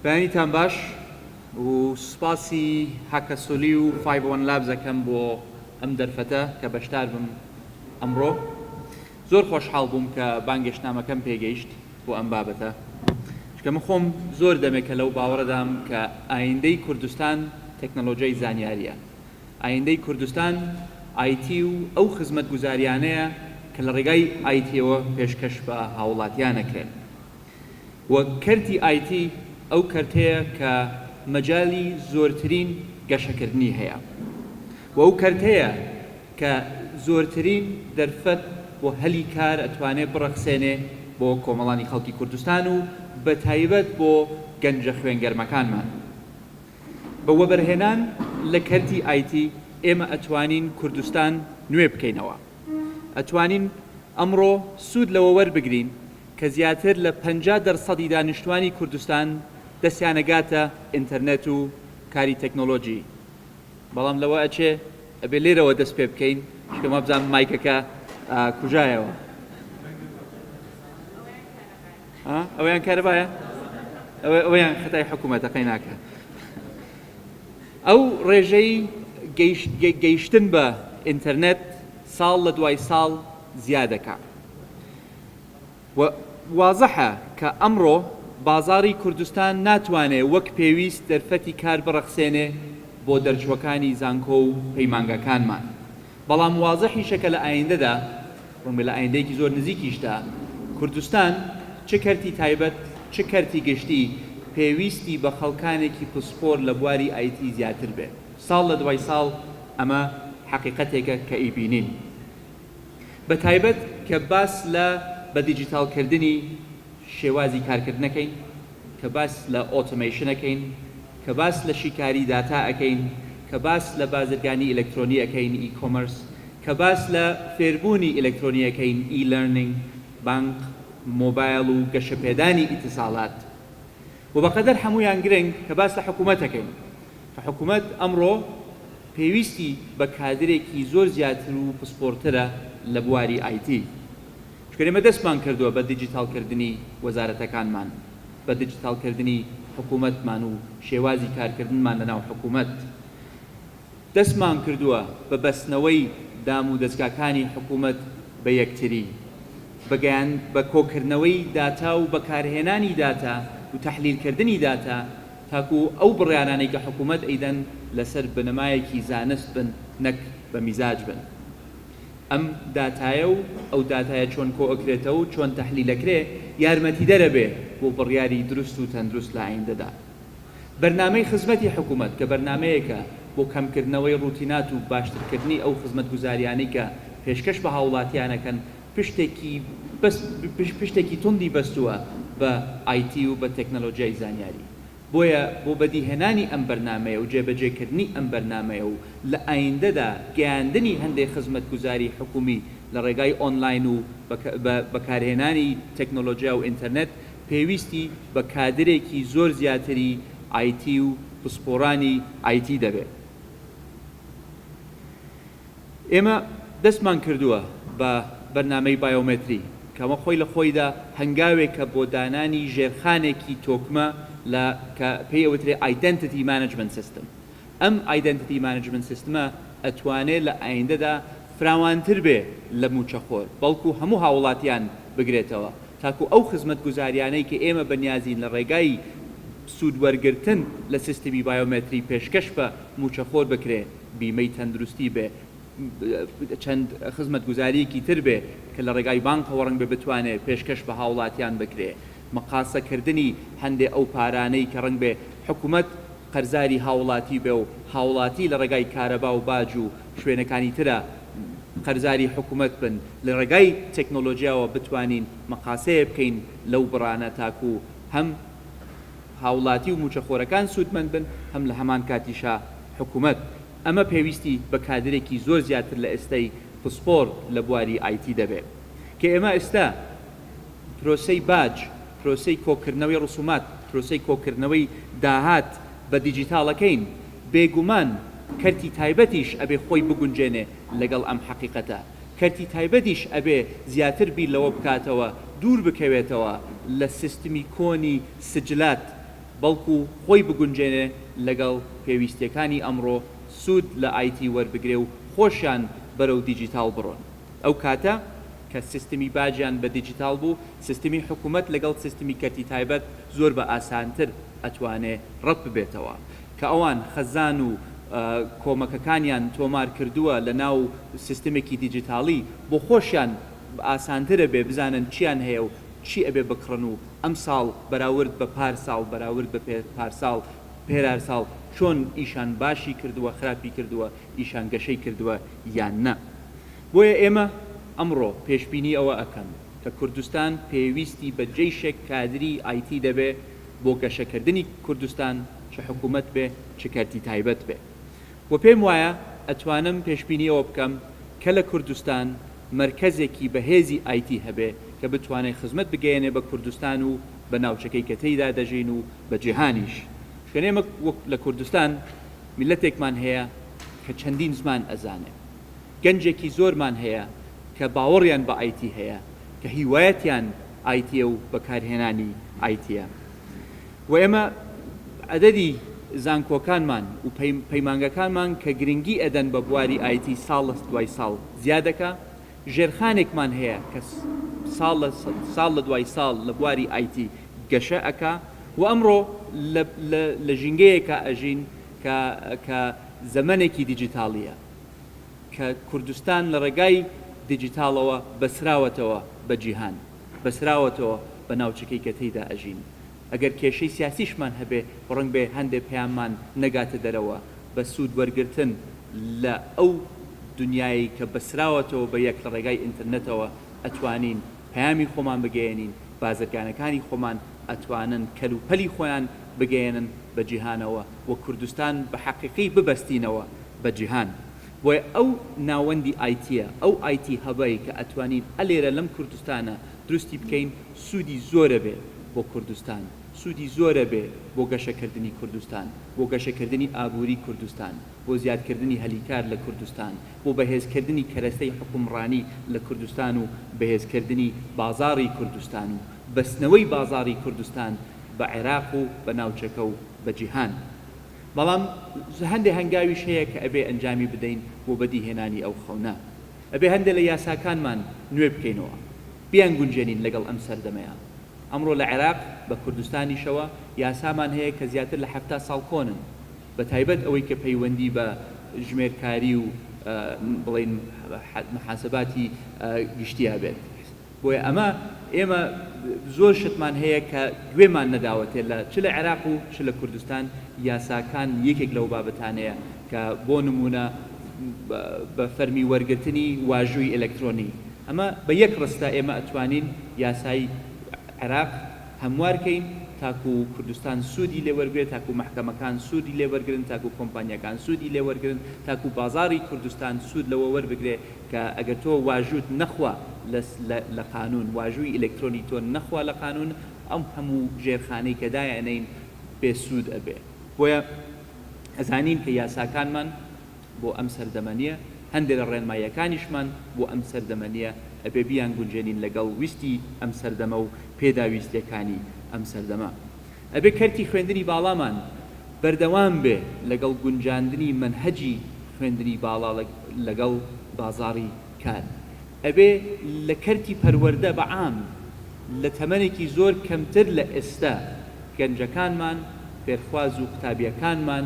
بەیانیتان باش و سوپاسی هاکاسۆلی و فایڤ وەن لابز ئەکەم بۆ ئەم دەرفەتە کە بەشدار بم ئەمڕۆ زۆر خۆشحاڵ بووم کە بانگێشتنامەکەم پێگەیشت بۆ ئەم بابەتە چکە من خۆم زۆر دەمێکە لەو باوەڕەدام کە ئایندەی کوردستان تەکنەلۆژیای زانیاریە ئایندەی کوردستان ئایتی و ئەو خزمەتگوزاریانەیە کە لە ڕێگای ئایتیەوە پێشکەش بە هاوڵاتیانەکرێن و کەرتی ئایتی ئەو کەرتەیە کە مەجالی زۆرترین گەشەکردنی هەیە و ئەو کەرتەیە کە زۆرترین دەرفەت بۆ هەلی کار ئەتوانێ بڕەخسێنێ بۆ کۆمەڵانی خەڵکی کوردستان و بە تایبەت بۆ گەنجە خوێنگەرمەکانمان بە وەبەرهێنان لە کەرتی ئایتی ئێمە ئەتوانین کوردستان نوێ بکەینەوە ئەتوانین ئەمڕۆ سوود لەوە وەربگرین کە زیاتر لە پەنجا دەرسەدی دانیشتوانی کوردستان دەستیانەگاتە ئینتەرنێت و کاری تەکنۆلۆجی بەڵام لەوە ئەچێ ئەبێ لێرەوە دەست پێ بکەین چونکە وابزانم مایکەکە کوژایەوە ئەویان کارەبایە ئەویان خەتای حکوومەتە قەیناکە ئەو ڕێژەی گەیشتن بە ئینتەرنێت ساڵ لە دوای ساڵ زیادەکە و وازحە کە ئەمڕۆ بازاڕی کوردستان ناتوانێ وەک پێویست دەرفەتی کار بڕەخسێنێ بۆ دەرچوەکانی زانکۆ و پەیمانگاکانمان بەڵام وازحیشە کە لە ئایندەدا ڕەنگە لە ئایندەیەکی زۆر نزیکیشدا کوردستان چ کەرتی تایبەت چ کەرتی گشتی پێویستی بە خەڵکانێکی پسپۆر لە بواری ئایتی زیاتر بێت ساڵ لە دوای ساڵ ئەمە حەقیقەتێکە کە ئەیبینین. بە تایبەت کە باس لە بە دیجیتاڵ کردنی شێوازی کارکردن ئەکەین، کە باس لە ئۆتۆمەیشن ئەکەین، کە باس لە شیکاری داتا ئەکەین، کە باس لە بازرگانی ئیلەکترۆنی ئەکەین، E-commerce، کە باس لە فێربوونی ئیلەکترۆنی ئەکەین، E-learning، بانق، مۆبایل و گەشەپێدانی ئیتیساڵات. وە بەقەدەر هەموویان گرنگ کە باس لە حکومەت دەکەین کە حکومەت ئەمڕۆ پێویستی بە کادرێکی زۆر زیاتر و پسپۆڕترە لە بواری ئای تی چونکە ئێمە دەستمان کردووە بە دیجیتاڵ کردنی وەزارەتەکانمان بە دیجیتاڵ کردنی حکومەتمان و شێوازی کارکردنمان لەناو حکومەت دەستمان کردووە بە بەستنەوەی دام و دەزگاکانی حکوومەت بە یەکتری، بە گەیان بە کۆکردنەوەی داتا و بەکارهێنانی داتا و تەحلیلکردنی داتا تاکوو ئەو بڕیارانەی کە حکوومەت ئەیدەن لەسەر بنەمایەکی زانست بن نەک بە میزاج بن ئەم داتایە و ئەو داتایە چۆن کۆئەکرێتەوە و چۆن تەحلیلەکرێ یارمەتیدەرەبێ بۆ بڕیاری دروست و تەندروست لە ئایندەدا. بەرنامەی خزمەتی حکوومەت کە بەرنامەیەکە بۆ کەمکردنەوەی ڕووتینات و باشترکردنی ئەو خزمەتگوزارییانەی کە پێشکەش بە هاووڵاتییان ئەکەن پشتێکی بەس پشتێکی توندی بەستووە بە IT و بە تەکنەلۆجیای زانیاری بۆیە بۆ بەدیهێنانی ئەم بەرنامەیە و جێبەجێکردنی ئەم بەرنامەیە و لە ئایندەدا گەیاندنی هەندێ خزمەتگوزاری حکوومی لە ڕێگای ئۆنلاین و بە بەکارهێنانی تەکنەلۆجیا و ئینتەرنێت پێویستی بە کادرێکی زۆر زیاتری ئایتی و پسپۆڕانی ئایتی دەبێت. ئێمە دەستمان کردووە بە بەرنامەی بایۆمەتری، کە ئەمە خۆی لە خۆیدا هەنگاوێکە بۆ دانانی ژێرخانێکی تۆکمە لە کە پێی ئەوترێت Identity Management System. ئەم ئایدەنتیتی مانجمنت سیستمە ئەتوانێ لە ئایندەدا فراوانتر بێ لە مووچەخۆر، بەڵکو هەموو هاووڵاتیان بگرێتەوە، تاکو ئەو خزمەتگوزاریانەی کە ئێمە بە نیازین لە ڕێگای سوود وەرگرتن لە سیستمی بایۆمەتری پێشکەش بە مووچەخۆر بکرێ، بیمەی تەندروستی بێ، چەند خزمەتگوزارییەکی تر بێ کە لە ڕێگای بانکەوە ڕەنگبێ بتوانێ پێشکەش بە هاوڵاتیان بکرێ. مقاسەکردنی هەندێ ئەو پارانەی کە ڕەنگبێ حکومەت قەرزاری هاوڵاتی بێ و هاوڵاتی لە ڕێگای کارەبا و باج و شوێنەکانی ترە قەرزاری حکومەت بن لە ڕێگای تەکنۆلۆجیاوە بتوانین مقاسەیێ بکەین لەو بڕانە تاکو هەم هاوڵاتی و موچەخۆرەکان سوودمەند بن هەم لە هەمان کاتیشا حکومەت ئەمە پێویستی بە کادرێکی زۆر زیاتر لە ئێستای پسپۆر لە بواری ئایتی دەبێ کە ئێمە ئێستا پرۆسەی باج، پرۆسەی کۆکردنەوەی ڕسومات، پرۆسەی کۆکردنەوەی داهات بە دیجیتاڵەکەین، بێگومان کەرتی تایبەتیش ئەبێ خۆی بگونجێنێ لەگەڵ ئەم حەقیقەتە، کەرتی تایبەتیش ئەبێ زیاتر بیر لەوە بکاتەوە دوور بکەوێتەوە لە سیستمی کۆنی سجلات، بەڵکو خۆی بگونجێنێ لەگەڵ پێویستیەکانی ئەمڕۆ، سود لە IT وەربگرێ و خۆشیان بەرەو دیجیتاڵ بڕۆن. ئەو کاتە، کە سیستمی باجیان بە دیجیتاڵ بوو، سیستمی حکومەت لەگەڵ سیستمی کەرتی تایبەت زۆر بە ئاسانتر ئەتوانێ ڕەت ببێتەوە. کە ئەوان خەزان و کۆمەکەکانیان تۆمار کردووە لە ناو سیستمێکی دیجیتاڵی، بۆ خۆشیان ئاسانتر ئەبێ بزانن چیان هەیە و چی ئەبێ بکڕن و ئەم ساڵ بەراورد بە پار ساڵ بەراورد بە پێ پار ساڵ پێرار ساڵ چۆن ئیشان باشی کردوە خراپی کردوە ئیشان گەشەی کردوە یان نا بۆیە ئێمە ئەمڕۆ پێشبینی ئەوە ئەکەن کە کوردستان پێویستی بە جەیشێک کادری ئایتی دەبێ بۆ گەشەکردنی کوردستان چ حکومەت بێ چ کەرتی تایبەت بێ. و پێم وایە ئەتوانم پێشبینی ئەوە بکەم کە لە کوردستان مەرکەزێکی بەهێزی ئایتی هەبێ کە بتوانێ خزمەت بگەیەنێ بە کوردستان و بە ناوچەکەی کە تێیدا دەژین و بە جیهانیش چونکە ئێمە وەک لە کوردستان میللەتێکمان هەیە کە چەندین زمان ئەزانێ گەنجێکی زۆرمان هەیە کە باوەڕیان بە ئایتی هەیە کە هیوایەتیان ئایتیە و بەکارهێنانی ئایتیە. و ئێمە عەدەدی زانکۆکانمان و پەیمانگەکانمان کە گرنگی ئەدەن بە بواری ئایتی ساڵ لە دوای ساڵ زیاد دەکا، ژێرخانێکمان هەیە کە ساڵ لە ساڵ لە دوای ساڵ لە بواری ئایتی گەشە ئەکا و ئەمڕۆ لە ژینگەیەکا ئەژین کە زەمەنێکی دیجیتاڵییە کە کوردستان لە ڕێگای دیجیتاڵەوە بەستراوەتەوە بە جیهان. بەستراوەتەوە بە ناوچەکەی کە تێیدا ئەژین ئەگەر کێشەی سیاسیشمان هەبێ ڕەنگ بێ هەندێ پەیاممان نەگاتە دەرەوە بە سوود وەرگرتن لە ئەو دنیایەی کە بەستراوەتەوە بە یەک لە ڕێگای ئینترنێتەوە ئەتوانین پەیامی خۆمان بگەیەنین بازرگانەکانی خۆمان ئەتوانن کەل و پەلی خۆیان بگەیەنن بە جیهانەوە و کوردستان بە حەقیقی ببەستینەوە بە جیهان بۆیە ئەو ناوەندی ئایتیە، ئەو ئایتی هەبەی کە ئەتوانین ئەلێرە لەم کوردستانە دروستی بکەین سوودی زۆرەبێ بۆ کوردستان، سوودی زۆرەبێ بۆ گەشەکردنی کوردستان، بۆ گەشەکردنی ئابووری کوردستان، بۆ زیادکردنی هەلی کار لە کوردستان، بۆ بەهێزکردنی کەرەستەی حوکمڕانی لە کوردستان و بەهێزکردنی بازاڕی کوردستان و بەستنەوەی بازاڕی کوردستان بە عێراق و بە ناوچەکە و بە جیهان. بەڵام هەندێ هەنگاویش هەیە کە ئەبێ ئەنجامی بدەین بۆ بەدیهێنانی ئەو خەونە. ئەبێ هەندێ لە یاساکانمان نوێ بکەینەوە. بیانگونجێنین لەگەڵ ئەم سەردەمەیا. ئەمڕۆ لە عێراق، بە کوردستانیشەوە، یاسامان هەیە کە زیاتر لە حەفتا ساڵ کۆنن. بە تایبەت ئەوەی کە پەیوەندی بە ژمێرکاری و بڵێین محاسباتی گشتیی بێت. بۆیە ئەمە ئێمە زۆر شتمان هەیە کە گوێمان نەداوەتێ لە چ لە عێراق و چ لە کوردستان یاساکان یەکێک لەو بابەتانەیە کە بۆ نموونە بە فەرمی وەرگرتنی واژووی ئەلەکترۆنی ئەمە بە یەک ڕستە ئێمە ئەتوانین یاسای عێراق هەموار کەین تاکوو کوردستان سوودی لێ وەرگرێ تاکوو مەحکەمەکان سوودی لێ وەرگرن تاکوو کۆمپانیاکان سوودی لێ وەرگرن تاکوو بازاڕی کوردستان سوود لەوە وەربگرێ کە ئەگەر تۆ واژووت نەخوا لە لە قانوون، واژووی ئیلەکترۆنی تۆ نەخوا لە قانوون، ئەم هەموو ژێرخانەی کە دایئەنێین بێ سوود ئەبێ. بۆیە ئەزانین کە یاساکانمان بۆ ئەم سەردەمە نییە، هەندێ لە ڕێنماییەکانیشمان بۆ ئەم سەردەمە نییە، ئەبێ بیانگونجێنین لەگەڵ ویستی ئەم سەردەمە و پێداویستییەکانی ئەم سەردەمە. ئەبێ کەرتی خوێندنی باڵامان بەردەوام بێ لەگەڵ گونجاندنی مەنهەجی خوێندنی باڵا لەگەڵ بازاڕی کار. ئەبێ لە کەرتی پەروەردە بە عام لە تەمەنێکی زۆر کەمتر لە ئێستا گەنجەکانمان، فێرخواز و قوتابیەکانمان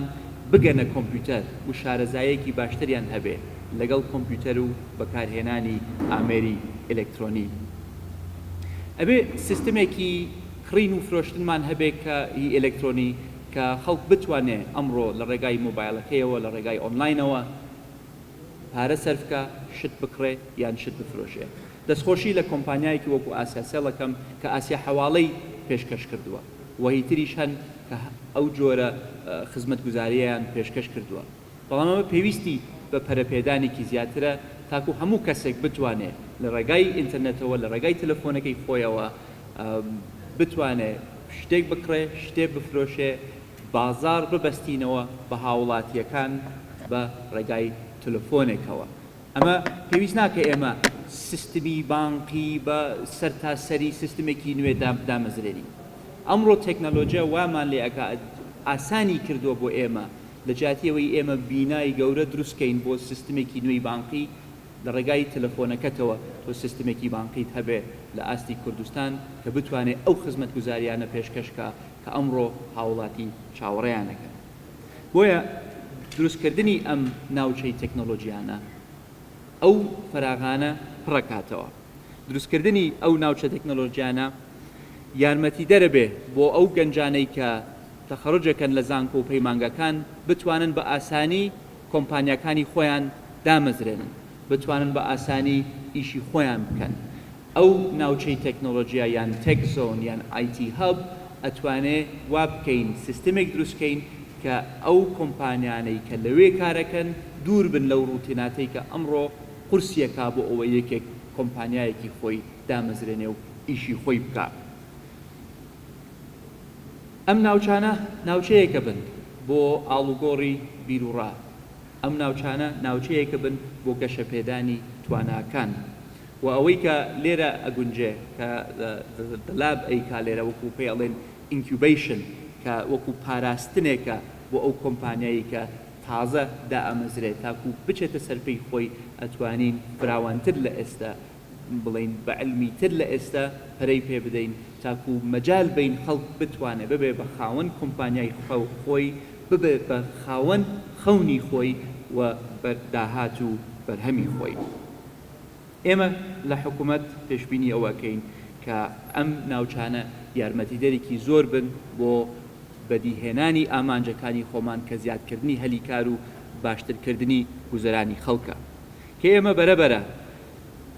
بگەنە کۆمپیوتەر و شارەزایەکی باشتریان هەبێ لەگەڵ کۆمپیوتەر و بەکارهێنانی ئامێری ئێلێکترۆنی. ئەبێ سیستمێکی کڕین و فرۆشتنمان هەبێ کە ی ئێلێکترۆنی کە خەڵک بتوانێ ئەمڕۆ لە ڕێگای مۆبایڵەکەیەوە لە ڕێگای ئۆنلاینەوە پارە سەرف کا شت بکڕێ یان شت بفرۆشێ دەستخۆشی لە کۆمپانیایەکی وەکو ئاسیا سێڵ ئەکەم کە ئاسیا حەواڵەی پێشکەش کردووە وە هیتریش هەن کە ئەو جۆرە خزمەتگوزاریەیان پێشکەش کردووە. بەڵام ئەمە پێویستی بە پەرەپێدانێکی زیاترە تاکو هەموو کەسێک بتوانێ لە ڕێگای ئینتەرنێتەوە لە ڕێگای تەلەفۆنەکەی خۆیەوە بتوانێ شتێک بکڕێ، شتێ بفرۆشێ، بازاڕ ببەستینەوە بە هاوڵاتییەکان بە ڕێگای تەلەفۆنێکەوە. ئەمە پێویست ناکە ئێمە سیستمی بانقی بە سەرتاسەری سیستمێکی نوێ دامەزرێنین. ئەمڕۆ تەکنەلۆجیا وامان لێ ئەکا ئاسانی کردووە بۆ ئێمە لە جیاتی ئەوەی ئێمە بینای گەورە دروست بکەین بۆ سیستمێکی نوێی بانقی لە ڕێگای تەلەفۆنەکەتەوە تۆ سیستمێکی بانقیت هەبێ لە ئاستی کوردستان کە بتوانێ ئەو خزمەتگوزاریانە پێشکەش بکا کە ئەمڕۆ هاوڵاتی چاوەڕێیان ئەکەن بۆیە دروست کردنی ئەم ناوچەی تەکنەڵۆجیانە ئەو فەراغانە پڕ ئەکاتەوە دروست کردنی ئەو ناوچە تەکنەڵۆجیانە یارمەتیدەرە بێ بۆ ئەو گەنجانەی کە تەخەڕوجەکەن لە زانکۆ و پەیمانگاکان بتوانن بە ئاسانی کۆمپانیاکانی خۆیان دامەزرێنن بتوانن بە ئاسانی ئیشی خۆیان بکەن ئەو ناوچەی تەکنۆلۆجیا یان تێک زۆن یان IT هەب ئەتوانێ وابکەین سیستمێک دروستکەین کە ئەو کۆمپانیانەی کە لەوێ کارەکەن دوور بن لەو ڕوتیناتەی کە ئەمڕۆ قورسیەکا بۆ ئەوەی یەکێک کۆمپانیایەکی خۆی دامەزرێنێ و ئیشی خۆی بکا. ئەم ناوچانە ناوچەیەکە بن بۆ ئاڵوگۆڕی بیروڕا، ئەم ناوچانە ناوچەیەکە بن بۆ گەشەپێدانی تواناکان و ئەوەی کە لێرە ئەگونجێ کە The Lab ئەیکا لێرە وەکو پێی ئەڵێن Incubation کە وەکو پاراستنێکە بۆ ئەو کۆمپانیایی کە تازە دائەمەزرێ تاکو بچێتە سەرپێی خۆی ئەتوانین فراوانتر لە ئێستا بڵێین بە عیلمی تر لە ئێستا پەرەی پێ بدەین تاکو مەجال بەین خەڵک بتوانێ ببێ بە خاوەن کۆمپانیای خۆی ببێ بە خاوەن خەونی خۆی و بە داهات و بەرهەمی خۆی ئێمە لە حکومەت پێشبینی ئەوە ئەکەین کە ئەم ناوچانە یارمەتیدەرێکی زۆر بن بۆ بەدی هێنانی ئامانجەکانی خۆمان کە زیاد کردنی هەلی کار و باشتر کردنی گوزەرانی خەڵکە کە ئێمە بەرە بەرە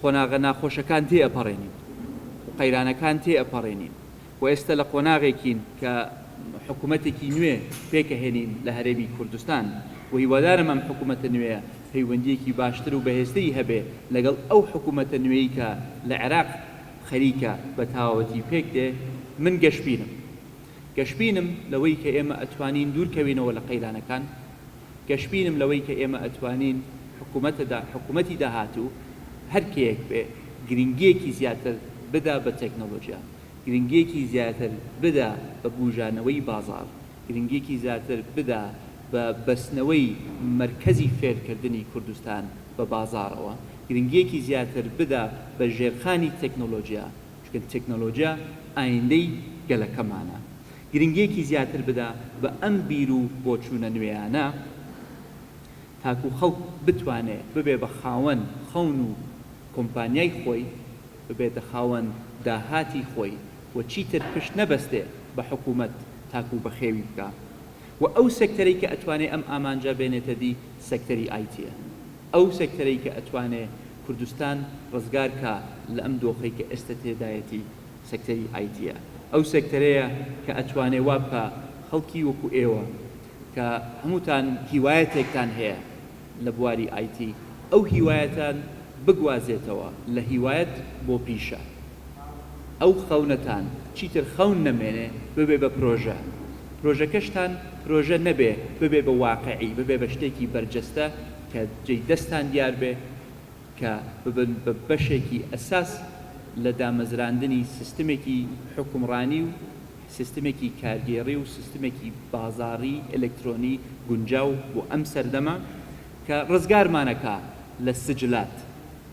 قۆناغە ناخۆشەکان تێ ئەپەڕێنین و قەیرانەکان تێ ئەپەڕێنین و ئێستە لە قۆناغێکین کە حکومەتێکی نوێ پێک ئەهێنین لە هەرێمی کوردستان و هیوادارم ئەم حکومەتە نوێیە پەیوەندییەکی باشتر و بەهێزتری هەبێ لەگەڵ ئەو حکومەتە نوێی کە لە عێراق خەریکە بە تەواوەتی پێک دێ من گەشبینم گەشبینم لەوەی کە ئێمە ئەتوانین دوور کەوینەوە لە قەیرانەکان. گەشبینم لەوەی کە ئێمە ئەتوانین حکومەتە حکومەتی داهاتوو هەر کێیەک بێ گرنگیەکی زیاتر بدا بە تەکنۆلۆجیا، گرنگیەکی زیاتر بدا بە بوژانەوەی بازاڕ، گرنگیەکی زیاتر بدا بە بەستنەوەی مەرکەزی فێرکردنی کوردستان بە بازاڕەوە، گرنگیەکی زیاتر بدا بە ژێرخانی تەکنۆلۆجیا، چونکە تەکنۆلۆجیا ئایندەی گەلەکەمانە. گرنگیەکی زیاتر بدە بە ئەم بیر و بۆچوونە نوێیانە تاکو خەڵک بتوانێ ببێ بە خاوەن خەون و کۆمپانیای خۆی، ببێتە خاوەن داهاتی خۆی و چیتر پشت نەبەستێ بە حکوومەت تاکو بەخێوی بکا و ئەو سێکتەرەی کە ئەتوانێ ئەم ئامانجە بێنێتە دی سێکتەری ئایتیە ئەو سێکتەرەی کە ئەتوانێ کوردستان ڕزگار کا لە ئەم دۆخەی کە ئێستە تێدایەتی سێکتەری ئایتیە ئەو سێکتەرەیە کە ئەتوانێ وا بکا خەڵکی وەکو ئێوە کە هەمووتان هیوایەتێکتان هەیە لە بواری ئایتی ئەو هیوایەتان بگوازێتەوە لە هیوایەت بۆ پیشە ئەو خەونەتان چیتر خەون نەمێنێ ببێ بە پرۆژە پرۆژەکەشتان پرۆژە نەبێ ببێ بە واقعی ببێ بە شتێکی بەرجەستە کە جێی دەستتان دیار بێ کە ببن بە بەشێکی ئەساس لە دامەزراندنی سیستمێکی حوکمڕانی و سیستمێکی کارگێڕی و سیستمێکی بازاڕی ئەلکترۆنی گونجاو بۆ ئەم سەردەمە کە ڕزگارمان ئەکا لە سجلات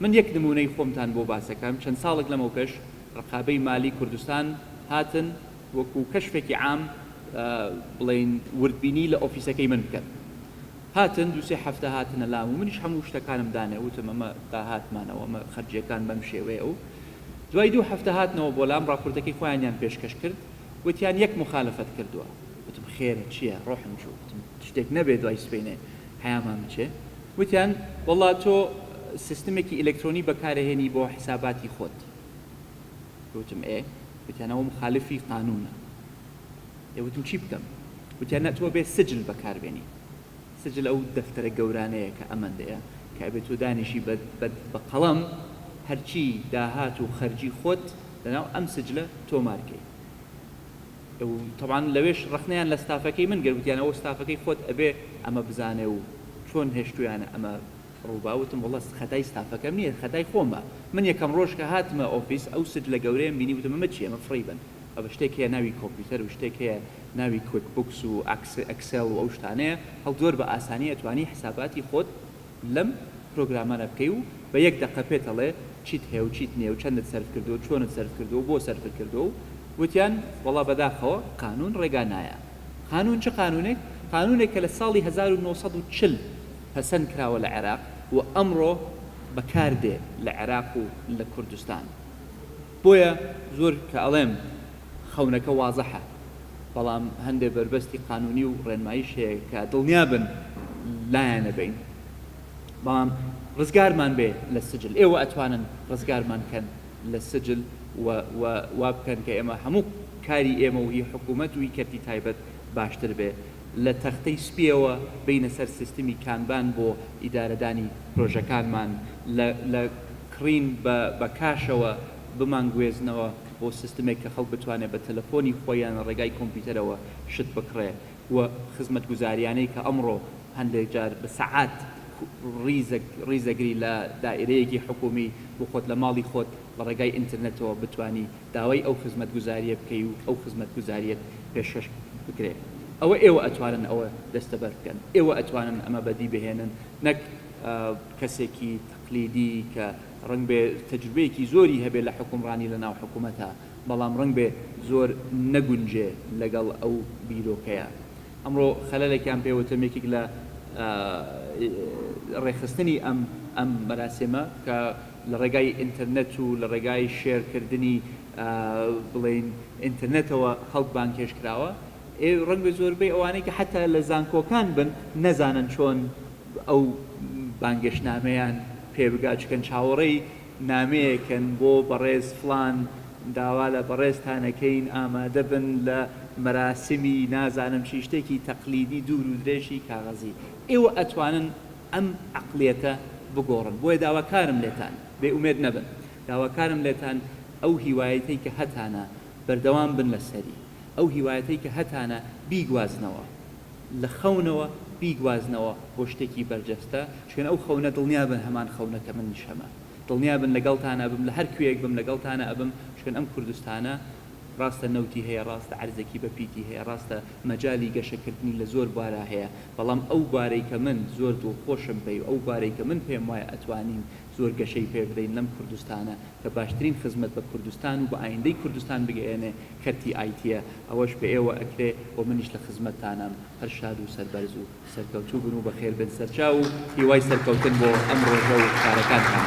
من یەک نمونەی خۆمتان بۆ باس ئەکەم چەند ساڵێک لەمەو پێش ڕقابەی مالی کوردستان هاتن وەکو کەشفێکی عام بڵێین وردبینی لە ئۆفیسەکەی من بکەن هاتن دوو سێ هەفتە هاتنە لام و منیش هەموو شتەکانم دانێ وتم ئەمە داهاتمانە و ئەمە خەرجیەکان بەم شێوەیە و دوای دوو هەفتە هاتنەوە بۆ لام ڕاپۆرتەکەی خۆیانیان پێشکەش کرد وتیان یەک موخالەفەت کردووە وتم خێرە چیە ڕۆحم چوو وتم شتێک نەبێ دوای سبەینێ حەیامان بچێ وتیان وەڵا تۆ سیستمێکی ئیلەکترۆنی بەکارەهێنی بۆ حیساباتی خۆت وتم ئێ وتیان ئەوە موخالفی قانوونە. دەیوتم چی بکەم؟ وتیان نا تۆ ئەبێت سجل بەکار بێنی، سجل ئەو دەفتەرە گەورانەیە کە ئەمەندەیە کە ئەبێت تۆ دانیشی بە قەڵەم هەرچی داهات و خەرجی خۆت لەناو ئەم سجلە تۆمار کەی. و تەبعەن لەوێش ڕەخنەیان لە ستافەکەی من گرت وتیان ئەوە ستافەکەی خۆت ئەبێ ئەمە بزانێ و چۆن هێشتوویانە ئەمە ڕووبا، وتم وەڵا خەتای ستافەکەم نییە خەتای خۆمە، من یەکەم ڕۆژ کە هاتمە ئۆفیس ئەو سجلە گەورەیەم بینی وتم ئەمە چییە ئەمە فڕی بەن بابە شتێک هەیە ناوی کۆمپیوتەر و شتێک هەیە ناوی کویک بوکس و ئەکسێڵ و ئەو شتانەیە هەڵ زۆر بە ئاسانی ئەتوانی حساباتی خۆت لەم پرۆگرامانە بکەی و بە یەک دەقە پێت ئەڵێ چیت هەیە و چیت نییە و چەندت سەرف کردووە و چۆنت سەرف کردووە و بۆ سەرفت کردووە و وتیان وەڵا بەداخەوە قانوون ڕێگا نایە قانوون چ قانوونێک قانوونێک کە لە ساڵی هەزار و نۆ سەد و چل پەسەند کراوە لە عێراق و ئەمڕۆ بەکار دێ لە عێراق و لە کوردستان بۆیە زۆر کە ئەڵێم خەونەکە وازەحە بەڵام هەندێ بەربەستی قانونی و ڕێنمایش هەیە کە دڵنیا بن لایانەبەین بەڵام ڕزگارمان بێ لە سجل ئێوە ئەتوانن ڕزگارمان کەن لە سجل و وا بکەن کە ئێمە هەموو کاری ئێمە و هی حکوومەت و هی کەرتی تایبەت باشتر بێ لە تەختەی سپییەوە بێینە سەر سیستمی کانبان بۆ ئیدارەدانی پرۆژەکانمان، لە لە کڕین بە بە کاشەوە بمانگوێزنەوە بۆ سیستمێک کە خەڵک بتوانێت بە تەلەفۆنی خۆی یان لە ڕێگای کۆمپیوتەرەوە شت بکڕێ و خزمەتگوزارییانەی کە ئەمڕۆ هەندێک جار بە سەعات ڕیزە ڕیزەگری لە دائیرەیەکی حکوومی و خۆت لە ماڵی خۆت لە ڕێگای ئینترنێتەوە بتوانی داوای ئەو خزمەتگوزاریە بکەی و ئەو خزمەتگوزاریەت پێشکەش بکرێ ئەوە ئێوە ئەتوانن ئەوە دەستەبەر بکەن ئێوە ئەتوانن ئەمە بەدی بهێنن نەک کەسێکی تەقلیدی کە ڕەنگبێ تەجروبەیەکی زۆری هەبێ لە حکومڕانی لە ناو حکومەتا بەڵام ڕەنگبێ زۆر نەگونجێ لەگەڵ ئەو بیرۆکەیە ئەمڕۆ خەلەلێکیان پێ وتم یەکێک لە ڕێکخستنی ئەم ئەم مەراسیمە کە لە ڕێگای ئینتەرنێت و لە ڕێگای شێر کردنی بڵێین ئینتەرنێتەوە خەڵک بانگهێشت کراوە ئێ ڕەنگە زۆربەی ئەوانەی کە حەتا لە زانکۆکان بن نەزانن چۆن ئەو بانگێشتنامەیان پێ بگات چکەن چاوەڕێی نامەیەکەن بۆ بەڕێز فڵان داوا لە بەڕێزتانەکەین ئامادە بن لە مەراسمی نازانم چی شتێکی تەقلیدی دوور و درێژی کاغەزی ئێوە ئەتوانن ئەم عەقڵیەتە بگۆڕن بۆیە داواکارم لێتان بێ ئومێد نەبن داواکارم لێتان ئەو هیوایەتەی کە هەتانە بەردەوام بن لەسەری ئەو هیوایەتەی کە هەتانە بیگوازنەوە لە خەونەوە بیگوازنەوە بۆ شتێکی بەرجەستە شوێن ئەو خەونە دڵنیا بن هەمان خەونە کە منیش هەمە دڵنیا بن لەگەڵتان ئەبم لە هەر کوێیەک بم لەگەڵتان ئەبم شوێن ئەم کوردستانە ڕاستە نەوتی هەیە، ڕاستە عەرزێکی بە پیتی هەیە، ڕاستە مەجالی گەشەکردنی لە زۆر بوارا هەیە، بەڵام ئەو بوارەی کە من زۆر دڵخۆشم بەی و ئەو بوارەی کە من پێم وایە ئەتوانین زۆر گەشەی پێ بدەین لەم کوردستانە کە باشترین خزمەت بە کوردستان و بە ئایندەی کوردستان بگەیەنێ کەرتی ئایتییە ئەوەش بە ئێوە ئەکرێ و منیش لە خزمەتتانام هەر شاد و سەربەرز و سەرکەوتوو بن و بەخێر بێن سەرچاو و هیوای سەرکەوتن بۆ ئەم ڕۆژە و کارەکانتان.